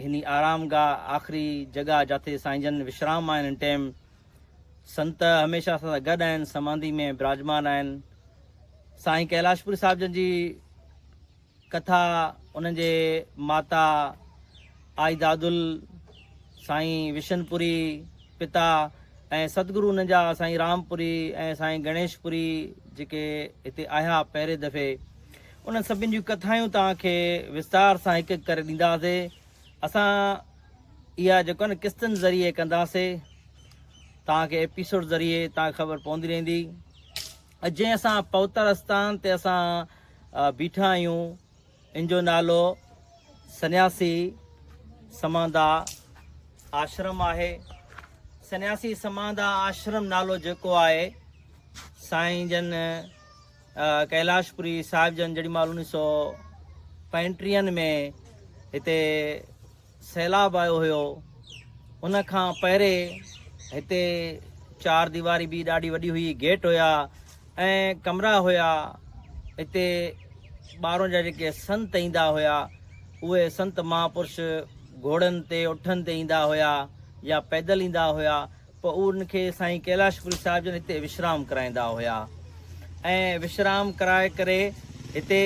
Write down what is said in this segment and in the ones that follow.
هن آرام گاهه آخري جڳهه جاٿي سائين جن وشرام آهن هن ٽيم سنت هميشه اسان سان گڏ آهن سمانڌي ۾ براجمان آهن سائين ڪيلاش پوري صاحب جن جي ڪٿا انهن جي ماتا آئي دادل سائين وشن پوري پتا ۽ ستگرو انهن جا سائين رام پوري ۽ سائين گڻيش پوري جيڪي هتي آيا پهرين دفعي انهن سڀني جون ڪٿايون توهان کي وستار سان هڪ هڪ ڪري ڏينداسي اسان اها جيڪو آهي نه قسطن ذريعي ڪنداسي توهان کي ايپيسوڊ ذريعي توهان کي خبر پوندي رهندي جي اسان پوتر استان تي اسان بيٺا آهيون ان جو نالو سنياسي سماندا آشرم آهي سنياسي سماندا آشرم نالو جيڪو آهي سائين جن ڪيلاش پوري صاحب جن جيڏي مهل انيس سو پنجٽيهن ۾ هتي سيلاب آيو هيو ان کان پهري هتي چار ديواري به ڏاڍي وڏي هئي گيٽ هيا ۽ ڪمرا هيا هتي ٻاهرون جا جيڪي سنت ايندا هيا اهي سنت مهاپرش گهوڙن تي اٺن تي ايندا هيا يا پيدل ايندا هيا پوءن کي سائين ڪيلاش پوري صاحب جن هتي وشرام ڪرائيندا هيا ۽ وشرام ڪرائي ڪري هتي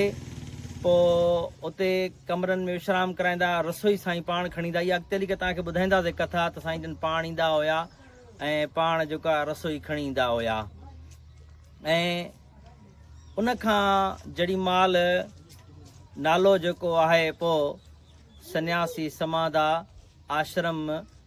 پوء اتي ڪمرن ۾ وشرام ڪرائيندا رسوئي سائين پاڻ کڻي ايندا اها اڳتي هلي ڪري توهان کي ٻڌائينداسي ڪٿا ته سائين جن پاڻ ايندا هيا ۽ پاڻ جيڪا رسوئي کڻي ايندا هيا ۽ ان کان جڙي مال نالو جيڪو آهي پوء سنياسي سمادا آشرم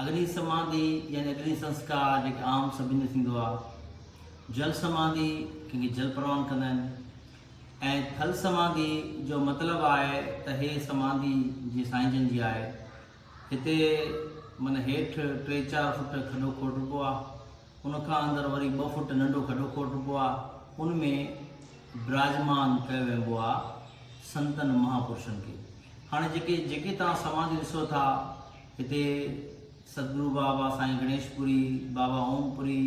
اگني سماڌي يعني اگني سنسڪار جيڪي عام سڀني جو ٿيندو آهي، جل سماڌي ڪنهن کي جل پروان ڪندا آهن ۽ ٿل سماڌي جو مطلب آهي ته هي سماڌي جي سائين جن جي آهي. هتي من هيٺ ٽي چار فوٽ کڏو کوٽبو آهي ان کان اندر وري ٻه فٽ ننڍو کڏو کوٽبو آ، ان ۾ براجمان ڪيو وينبو آ سنتن مهاپرشن کي. هاڻي جيڪي جيڪي توهان سماڌيون ڏسو ٿا، هتي سدگرو بابا، سائين گڻيش پوري، بابا اوم پوري،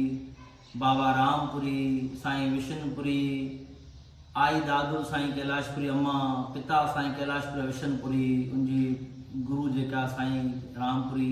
بابا رام پوري، سائين وشن پوري، آئي دادو سائين ڪيلاش پوري اما، پتا سائين ڪيلاش پوري وشن پوري، ان جي گرو جيڪا سائين رام پوري،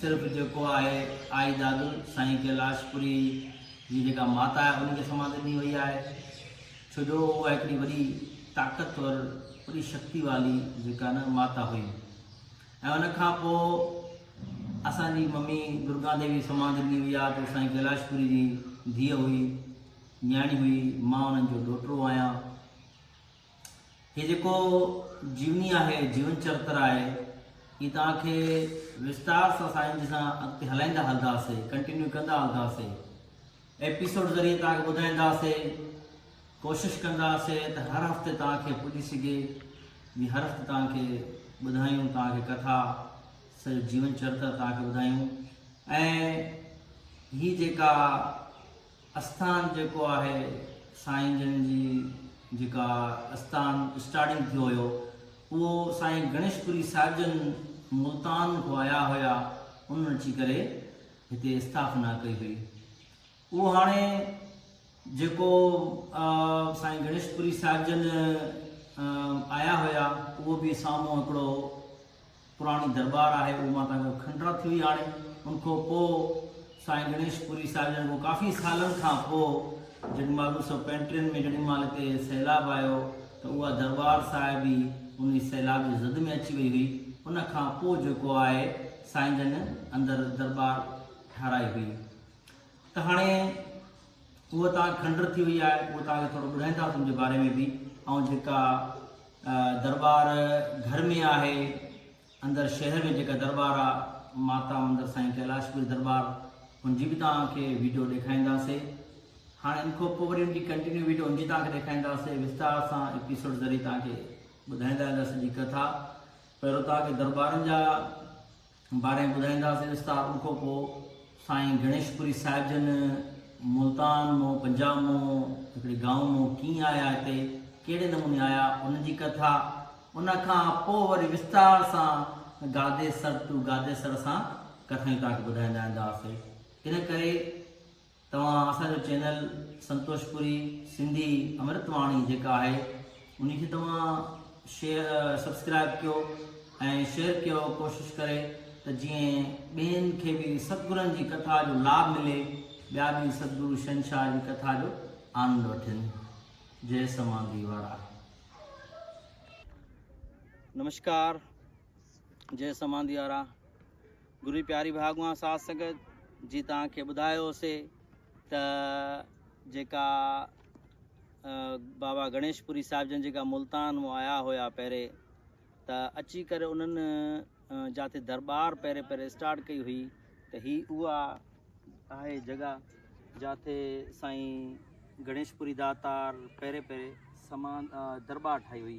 صرف جيڪو آهي آئي دادل سائين ڪيلاش پوري جي جيڪا ماتا آهي ان کي سماڌي ڏني وئي آهي ڇو جو اها هڪڙي وڏي طاقتور وڏي شڪتي والي جيڪا نه ماتا هئي ۽ ان کان پوء اسان جي ممي درگا ديوي سماڌي ڏني وئي آهي ته سائين ڪيلاش پوري جي ڌيء هئي نياڻي هئي مان انهن جو ڏوهٽو آهيان هي جيڪو جيوني آهي، جيون چرتر آهي، هي توهان کي وستار سان سائين جي سان اڳتي هلائيندا هلنداسي، ڪنٽينيو ڪندا هلنداسي. ايپيسوڊ ذريعي توهان کي ٻڌائينداسي، ڪوشش ڪنداسي ته هر هفتي توهان کي پڄي سگهي، جي هر هفتي توهان کي ٻڌايون، توهان کي ڪٿا سڄو جيون چرتر توهان کي ٻڌايون ۽ هي جيڪا استان جيڪو آهي سائين جن جي جيڪا استان اسٽارٽنگ ٿيو هيو اهو سائين گڻيش پوري صاحب جن ملتان کان آيا هيا انهن اچي ڪري هتي استاپنا ڪئي هئي اهو هاڻي جيڪو سائين گڻيش پوري صاحب جن آيا هيا اهو به سامهون هڪڙو پراڻي درٻار آهي اهو مان تان کان کنڊرا ٿي وئي هاڻي ان کان پوء سائين گڻيش پوري صاحب جن کان ڪافي سالن کان پوء جڏهن مال انيس سو پنٽيهن ۾ جڏهن مال هتي سيلاب آيو ته اها درٻار صاحب ئي ان سيلاب جي زد ۾ اچي وئي هئي ان کان پوء جيڪو آهي سائين جن اندر درٻار ٺهرائي هئي ته هاڻي هوء توهان کنڊر ٿي وئي آهي، اهو توهان کي ٿورو ٻڌائيندا سون جي باري ۾ به ۽ جيڪا درٻار گهر ۾ آهي اندر شهر ۾ جيڪا درٻار آهي ماتا مندر سائين ڪيلاش پوري درٻار ان جي به توهان کي ويڊيو ڏيکاريندا سي هاڻي ان کان پوء وري ان جي ڪنٽينيو ويڊيو ان جي توهان کي ڏيکاريندا سي وستار سان ايپيسوڊ ذريعي توهان کي ٻڌائيندا وينداسي جي ڪٿا پهرو توهان کي درٻارن جا باري ٻڌائينداسين وستار ان کان پوء سائين گڻيشپوري صاحب جن ملتان مون پنجاب مون هڪڙي گائون مون ڪيئن آيا هتي ڪهڙي نموني آيا ان جي ڪٿا ان کان پوء وري وستار سان گاديسر ٽو گاديسر سان ڪٿائيون توهان کي ٻڌائيندا اينداسي ان ڪري توهان اسان جو چينل سنتوش پوري سنڌي امرت واڻي جيڪا آهي انهي کي توهان شيئر سبسڪرائب ڪيو ۽ شيئر ڪيو ڪوشش ڪري ته جيئن ٻين کي به ستگرن جي ڪٿا جو لاب ملي ٻيا به ستگرو شهنشاهه جي ڪٿا جو آنند وٺن جي سمانگي وارا نمشڪار جي سمانگي وارا گري پياري ڀاڳوان ساڌ سنگت جي توهان کي ٻڌايو هوسي ته جيڪا بابا گڻيش پوري صاحب جن جيڪا ملتان مون آيا هيا پهري ته اچي ڪري انهن جاتي دربار پهري پهري اسٽارٽ ڪئي هئي ته هي اها آهي جڳا جاتي سائين گڻيش پوري داتار پهري پهري سمان دربار ٺاهي هئي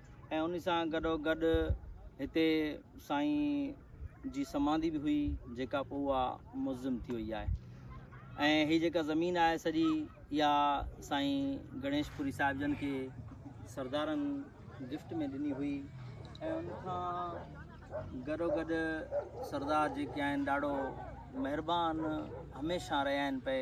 ۽ ان سان گڏوگڏ هتي سائين جي سمانڌي به هئي جيڪا پوء اها مزم ٿي وئي آهي ۽ هي جيڪا زمين آهي سڄي اها سائين گڻيش پوري صاحب جن کي سردارن گفٽ ۾ ڏني هئي ۽ ان کان گڏوگڏ سردار جيڪي آهن ڏاڍو مهربان هميشا رهيا آهن پئي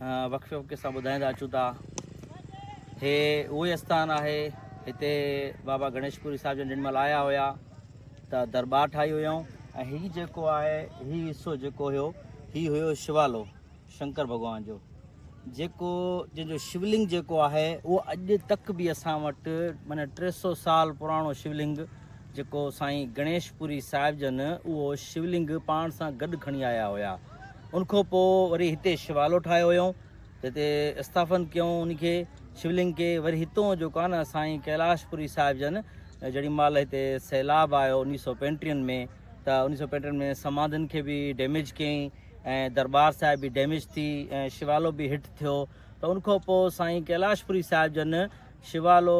وقفي وقفي سان ٻڌائيندا اچون ٿا هي اهو ئي آستان آهي هتي بابا گڻيش پوري صاحب جن مل آيا هيا ته دربار ٺاهي هيائون ۽ هي جيڪو آهي هي حصو جيڪو هيو هي هيو شوالو شنڪر ڀڳوان جو جيڪو جن جو شولنگ جيڪو آهي اهو اڄ تڪ به اسان وٽ معنی ٽي سو سال پراڻو شولنگ جيڪو سائين گڻيش پوري صاحب جن اهو شولنگ پاڻ سان گڏ کڻي آيا هيا ان کان پوء وري هتي شوالو ٺاهيو هيو جتي استافن ڪيون ان کي شولنگ کي وري هتون جو ڪان سائين ڪيلاش پوري صاحب جن جهڙي مال هتي سيلاب آيو انيس سو پنٽين ۾ ته انيس سو پنٽين ۾ سماڌين کي به ڊيميج ڪيائين ۽ دربار صاحب به ڊيميج ٿي ۽ شوالو به هٽ ٿيو ته ان کان پوء سائين ڪيلاش پوري صاحب جن شيوالو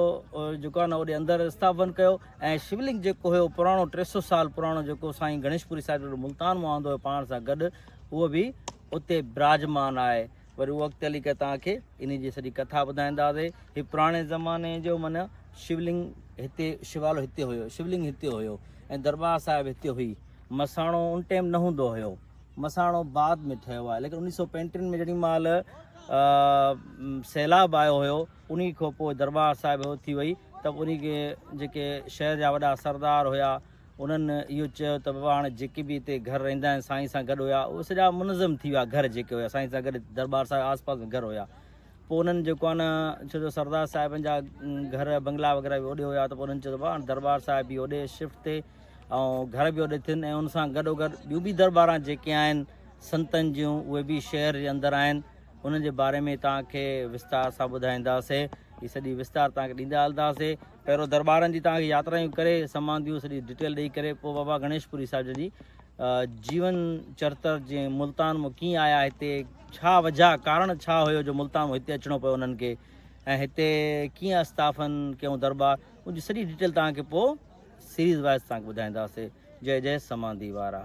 جيڪو آهي نه اوڏي اندر استاپن ڪيو ۽ شولنگ جيڪو هيو پراڻو ٽي سو سال پراڻو جيڪو سائين گڻيش پوري صاحب جو ملتان مون آندو هيو پاڻ سان گڏ اهو به اتي براجمان آهي وري اهو اڳتي هلي ڪري تان کي ان جي سڄي ڪٿا ٻڌائينداسي هي پراڻي زماني جو من شولنگ هتي شيوالو هتي هيو شولنگ هتي هيو ۽ دربار صاحب هتي هئي مساڻو ان ٽائم نه هوندو هيو مساڻو بعد ۾ ٺهيو آهي ليڪن انيس سو پنٽين ۾ جڏهن مال سيلاب آيو هيو انهي کان پوء درٻار صاحب اٿي وئي ته انهي کي جيڪي شهر جا وڏا سردار هيا انهن اهو چيو ته بابا هاڻي جيڪي به هتي گهر رهندا آهن سائين سان گڏ هيا اهي سڄا منظم ٿي ويا گهر جيڪي هيا سائين سان گڏ درٻار صاحب آس پاس ۾ گهر هيا پوء انهن جيڪو آهي نه ڇو جو سردار صاحبن جا گهر بنگلا وغيره به اوڏي هيا ته پوء انهن چيو بابا هاڻي درٻار صاحب به اوڏي شفٽ ٿي ۽ گهر به اوڏي ٿين ۽ ان سان گڏو گڏ ٻيون به درٻاران جيڪي آهن سنتن جون اهي به شهر جي اندر آهن انهن جي باري ۾ توهان کي وستار سان ٻڌائينداسين. هي سڄي وستار توهان کي ڏيندا هلنداسين. پهريون درٻارن جي توهان کي ياترايون ڪري سمانديون سڄي ڊيٽيل ڏئي ڪري پوء بابا گڻيش پوري صاحب جن جي جيون چرتر جي ملتان مون ڪيئن آيا هتي ڇا وجهه ڪارڻ ڇا هيو جو ملتان مون هتي اچڻو پيو انهن کي ۽ هتي ڪيئن استافن ڪيون درٻار ان جي سڄي ڊيٽيل توهان کي پوء سيريز وائز توهان کي ٻڌائينداسين جي جي سماندي وارا